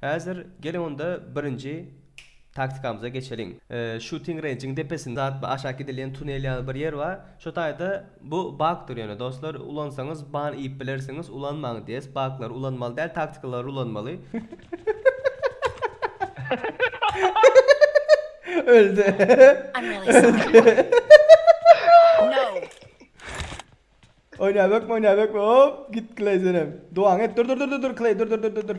Häzir geliň onda birinji Taktikamyza geçeliň. Shooting range-iň depesinde atly aşak gidilýän tunel ýaly bir ýer bar. Şu taýda bu bakdyr ýöne dostlar ulansaňyz ban iýip bilersiňiz ulanmaň DS baklary ulanmaly däl taktikalary ulanmaly. Öldi. Oýnaýbekmi oýnaýbekmi hop git kleý senem. Duaňy et dur dur dur dur dur kleý dur dur dur dur dur.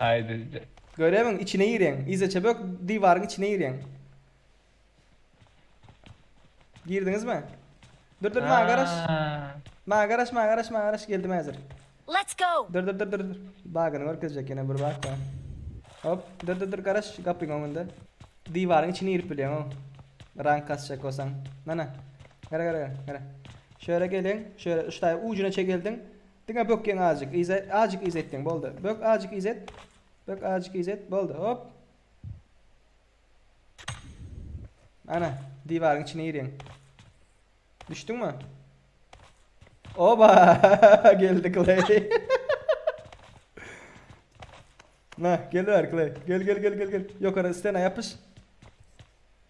Aý bizde. Görebiň içine gireň. Yzaça bök diwaryň içine gireň. Girdiňizmi? Dur dur maňa garaş. Maňa garaş maňa garaş maňa garaş geldim häzir. Let's go. Dur dur dur dur. Bagyny görkezjek ýene bir bak bar. Hop dur dur dur garaş gapyň öňünde. Diwaryň içine girip bilýäň o. Rank kasjak bolsaň. Nana. Gara gara gara. Şöyle geliň. Şöyle şu taýy ujuna çegeldiň. Diňe bökýäň azjyk yza azjyk yza etdiň boldy bök azjyk yza et bök azjyk yza et boldy hop Ana diwaryň içine girýäň Düşdüňmi Oba geldi Clay Na gel ver Clay gel gel gel gel gel ýokary stena ýapyş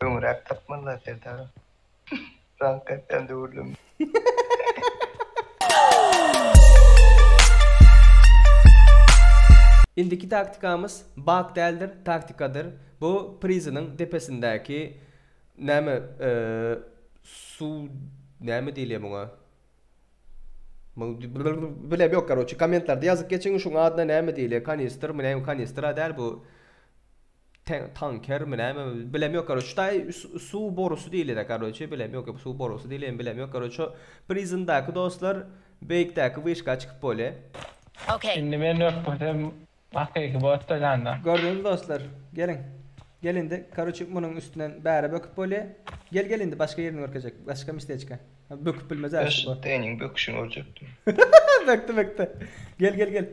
Öňräk tapmazlar Serdar. Raňk etýän döwürlerim. Indiki taktikamyz bug däldir taktikadyr bu prizynyň depesindäki näme suw näme diýilýär muňa Bilem yok karoçi komentlarda yazyp geçiň şuň adyna näme diýilýär kanistr mi näme kanistra däl bu tanker mi näme bilem yok karoçi şuday suw borusy diýilýär karoçi bilem yok suw borusy diýilýär bilem yok karoçi prizmdaky dostlar beýikdäki wyşka çykyp bolýar Indi men ökmesem Hakyky botda janda. Gördüňizmi dostlar. Geliň. Gel indi karoçi munuň üstünden bäri böküp bolýa. Gel gel indi başga ýerini görkezjek. Başga misteçka. Böküp bilmez a şu bot. Seniň böküşiňi görjekdim. Bökdi bökdi. Gel gel gel.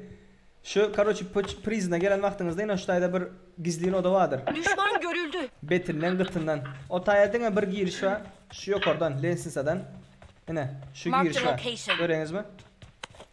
Şu karoçi poç prizine gelen wagtyňyzda ine şu taýda bir gizlin oda bardyr. Düşman görüldi. Betinden gytyndan. O taýa diňe bir giriş bar. Şu ýokardan lensnisadan. Ine şu Marked a giriş bar. location. Göreňizmi?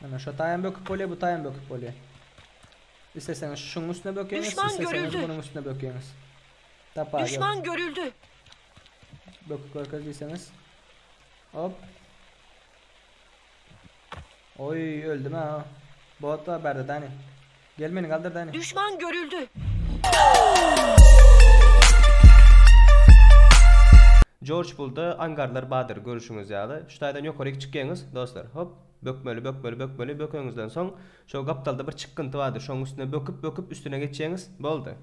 Mena şo taýam böküp bolýar, bu taýam böküp bolýar. Isleseňiz şuň üstüne bökeňiz, Düşman isleseňiz görüldi. munuň üstüne bökeňiz. Tapa, gel. Düşman görüldi. Böküp görkez diýseňiz. Hop. Oý, öldüm ha. Bot bar bärde dani. Gel meni galdyr da ine. Düşman görüldi. Jorj Bulda angarlar badyr görüşiňiz ýaly. Şu taýdan ýokaryk çykýaňyz dostlar. Hop. Bökmeli bökmeli bökmeli bökeňizden soň şo gapdalda bir çykgynty bardyr şoň üstüne böküp böküp üstüne geçýäňiz. Boldy.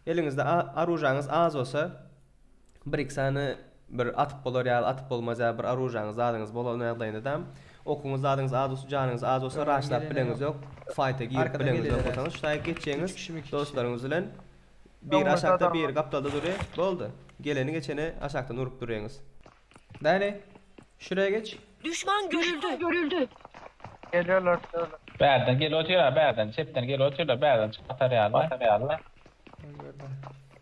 Eliňizde a aružaňyz az bolsa. bir-iki sany bir atyp bolar ýaly, atyp bolmaz ýaly bir oružýaňyz, zadyňyz bolan ýagdaýyndadam, okuňyz, zadyňyz az bolsa, janyňyz az bolsa, raşlap bileňiz ýok, faýta girip bileňiz ýok bolsaňyz, şu taýy geçjeňiz, dostlaryňyz bilen biri aşakda, biri gapdalda dury, boldy. Geleni geçeni aşakdan urup duryňyz. Bäri, şuraya geç. Düşman görüldi. Gelýärler, şöyle. Bärden gelip otyrlar, bärden, çepden gelip otyrlar, bärden çykyp atarýarlar. Batarýarlar.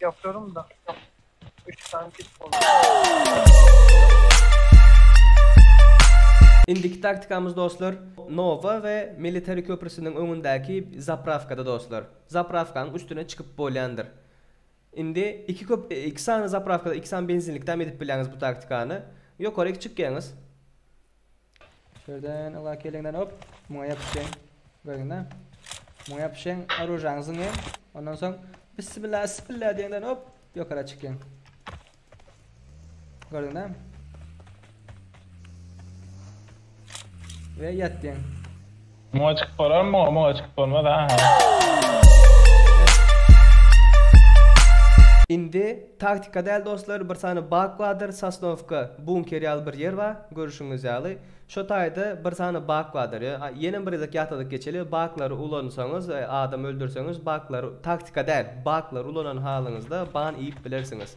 Yapıyorum da. Üç tane kit oldu. Indiki taktikamyz dostlar Nova we Military köprüsiniň öňündäki zapravkada dostlar. Zapravkanyň üstüne çykyp bolýandyr. Indi iki köp iki sany zapravkada iki sany benzinlikde hem edip bilýäňiz bu taktikany. Ýokaryk çykýaňyz. Şerden ala kelinden hop. Muňa ýapyşyň. Görüňda. Muňa ýapyşyň. Arujaňyzyň hem. Ondan soň bismillah bismillah diýenden hop ýokara çykyň. Görüňda. Ve ýatdyň. Muňa çykyp bolarmy muňa muňa çykyp bolmaz ha ha. Indi taktika däl dostlar bir sany bak bardyr sosnowka bunker ýaly bir ýer bar görüşiňiz ýaly şo taýda bir sany bak bardyr ýenem bir gezek ýatladyp geçeli baklary ulansaňyz adam öldürseňiz baklary taktika däl baklary ulanan halyňyzda ban iýip bilersiňiz.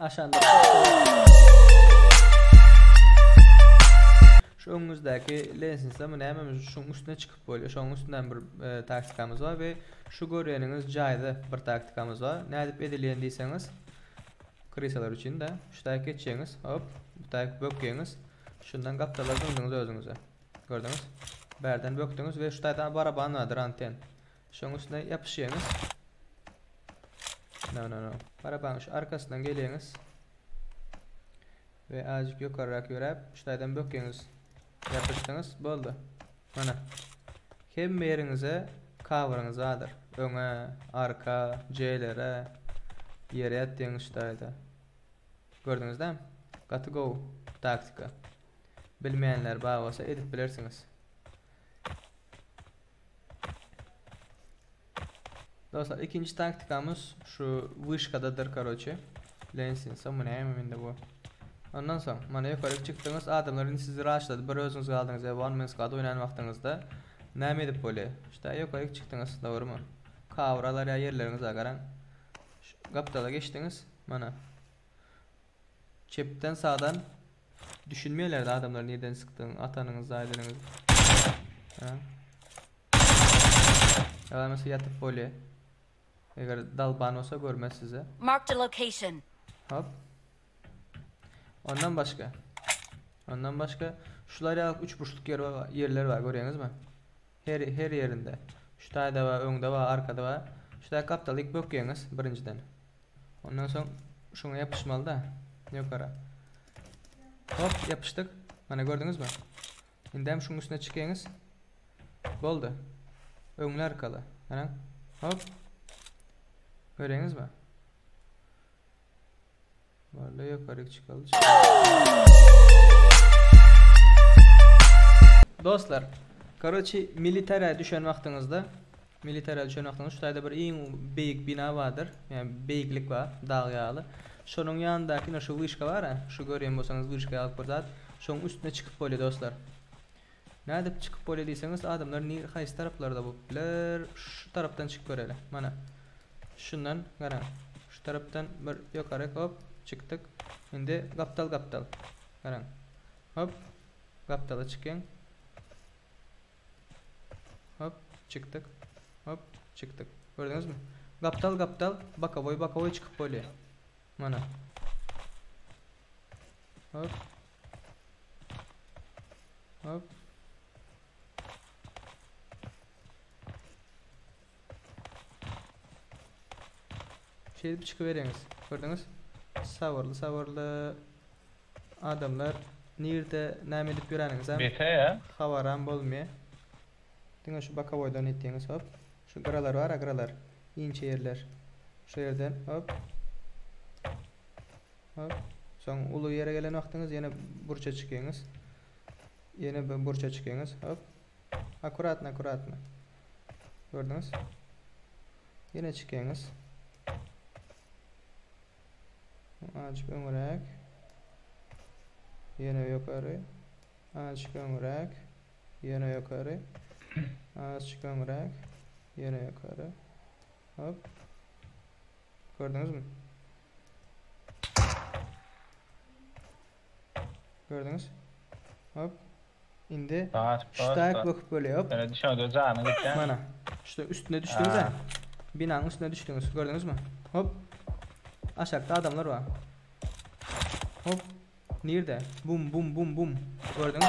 Aşanda Şu öňüňizdäki lensisde bu näme şuň üstüne çykyp bolýar. Şoň üstünden bir e, taktikamyz bar we şu görýäniňiz jaýda bir taktikamyz bar. Nädip edilýän diýseňiz, krisalar üçin de şu taýy geçýäňiz, hop, bu taýy bökýäňiz. Şundan gapdallar döndüňiz özüňize. Gördüňiz? Bärden bökdüňiz we şu taýda baraban bardyr anten. Şoň üstüne ýapyşýaňyz. No, no, no. Barabaň şu arkasyndan gelýäňiz. We azjyk ýokarrak ýöräp, şu taýdan bökýäňiz. Ýapyşdyňyz, boldy. Mana. Hemme ýeriňize kawyryňyz bardyr. Öňe, arka, J-lere, ýere ýatýaňyz şu taýda. Gördüňizde? Gaty gowy taktika. Bilmeýänler bar bolsa edip bilersiňiz. Dostlar ikinci taktikamız şu wışkadadyr karoçe. Lensin soň bu näme mende bu. Ondan soň mana ýokaryk çykdyňyz adamlar indi sizi raşladı bir özüňiz galdyňyz ya one man squad oýnan wagtyňyzda näme edip bolýar. Şuta ýokaryk çykdyňyz dogrymy? Kawralar ýa ýerleriňize garaň. Gapdala geçdiňiz mana. Çepden sağdan düşünmeýärdi adamlar neden sıkdığını atanıňız aýdanyňyz. Ha. Yalanası yatıp böyle. Eğer dalban olsa görmez size. Marked a location. Hop. Ondan başka. Ondan başka şular ya üç burçluk yer var, yerler var görüyorsunuz mu? Her her yerinde. Şu tayda var, öňde var, arkada var. Şu tayda kaptalyk böküyorsunuz birinciden. Ondan soň şuňa ýapyşmaly-da ýokara. Hop, ýapyşdyk. Mana gördüňizmi? Indi hem şuň üstüne çykyňyz. Boldy. Öňli arkaly. Garaň. Hop. Göreňizmi? Boldy, ýokaryk çykaldy. Dostlar, karoçi, militara düşen wagtyňyzda Milli taýdan çynaklaňda şu taýda bir iň beýik bina bardyr. Ýagny beýiklik bar, dag ýaly. Şonuň ýanyndaky ine şu wyşka bar-a, şu görýän bolsaňyz wyşka ýaly bir zat. Şoň üstüne çykyp bolýar dostlar. Nädip çykyp bolýar diýseňiz, adamlar nir haýsy taraplarda bolup biler? Şu tarapdan çykyp göreli. Mana. Şundan, garaň. Şu tarapdan bir ýokaryk, hop, çykdyk. Indi gapdal gapdal. Garaň. Hop. Gapdala çykyň. Hop, çykdyk. Hop, çykdyk. Gördüňizmi? Gapdal, gapdal, bokowoý, bokowoý çykyp bolýar. Mana. Hop. Hop. Şeýdip çykybereňiz. Gördüňiz? Sabyrly sabyrly adamlar nirde näme edip ýöreniňizem habaram bolmaýar. Diňe şu bokowoýdan etdiňiz hop. Şu gyralar bar-a gyralar. Inçe ýerler. Şu ýerden hop. Hop. Soň uly ýere gelen wagtyňyz ýene burça çykyňyz. Ýene bir burça çykyňyz hop. Akkuratno akkuratno. Gördüňiz? Ýene çykyňyz. Azjyk öňräk. Ýene ýokary. Azjyk öňräk. Ýene ýokary. Azjyk öňräk. Ýene ýokary. Hop. Gördüňizmi? Gördüňiz? Hop. Indi Bas, bas, ştaýk bas. böküp bolýar. Hop. Öyle düşün öde canı gitsen. Mana. Şuda üstüne düşdüňiz Ha. ha. Binanyň üstüne düşdüňiz. Gördüňizmi? Hop. Aşakda adamlar bar. Hop. Nirde? Bum bum bum bum. Gördüňiz?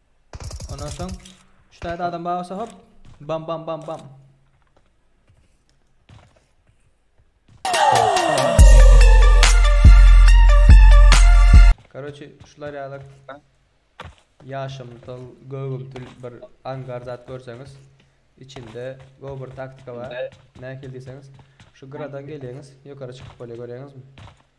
Ondan soň şu taýda adam bar bolsa hop bam bam bam bam. Karoçi şular ýaly ýaşymtyl, gögümtil bir angar zat görseňiz, içinde go bir taktika bar. Nähili diýseňiz, şu gyradan gelýäňiz, ýokary çykyp bolýar görýäňizmi?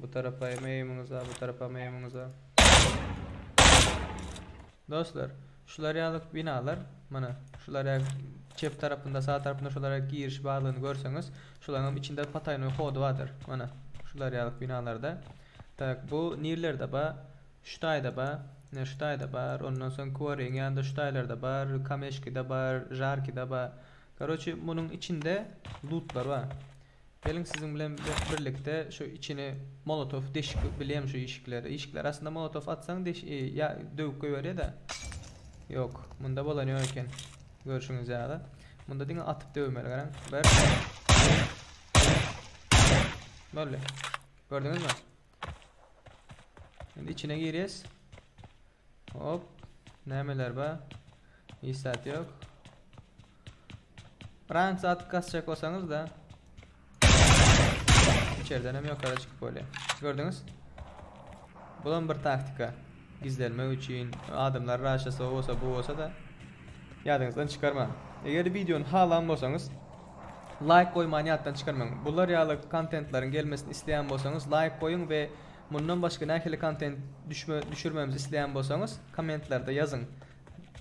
Bu tarapaýym eýimuňyza bu tarapam eýimuňyza. Dostlar, şular ýaly binalar, mana şular ýa çep tarapynda, sag tarapynda şular ýa giriş barlygyny görseňiz, şularyňam içinde pataýnoý hody bardyr. Mana şular ýaly binalarda. Tak, bu nirlerde ba? Şu taýda ba? Ne şu taýda bar, ondan soň Kuwaryň ýanynda şu taýlarda bar, Kameşkide bar, Žarkide ba. Karoçi, munuň içinde lutlar ba. Geliň siziň bilen birlikde şu içini molotow deşik bilem şu işikleri işikleri aslynda molotow atsaň deş ýa döwüp goýberýada ýok munda bolan ýok eken görşüňiz ýaly munda diňe atyp döwmeli garaň bir boldy gördüňizmi Şimdi içine girýäs. Hop. Nämeler bar? Hiç zat ýok. Rank zat kasjak bolsaňyz da içerden hem ýokary çykyp bolýar. Gördüňiz? Bulan bir taktika. Gizlenmek üçin adamlar raşysa o bolsa bu bolsa-da ýadyňyzdan çykarmaň. Eger wideony halan bolsaňyz laýk goýmany ýatdan çykarmaň. Bular ýaly kontentleriň gelmesini isleýän bolsaňyz laýk goýuň we mundan başga nähili kontent düşme düşürmemizi isleýän bolsaňyz kommentlerde ýazyň.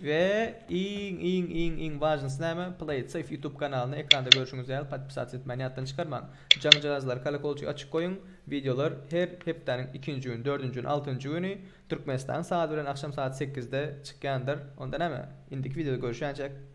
We iň iň iň iň wajnysy näme Play Safe YouTube kanalyny ekranda görşüňiz ýaly podpisats etmäni ýatdan çykarmaň. Jaňjagazlar kolokolçygy açyk goýuň wideolar her hepdäniň ikinji güni dördünji güni altynjy güni Türkmenistan sagat bilen agşam sagat sekizde çykýandyr onda näme indiki wideoda görüşýänçäk.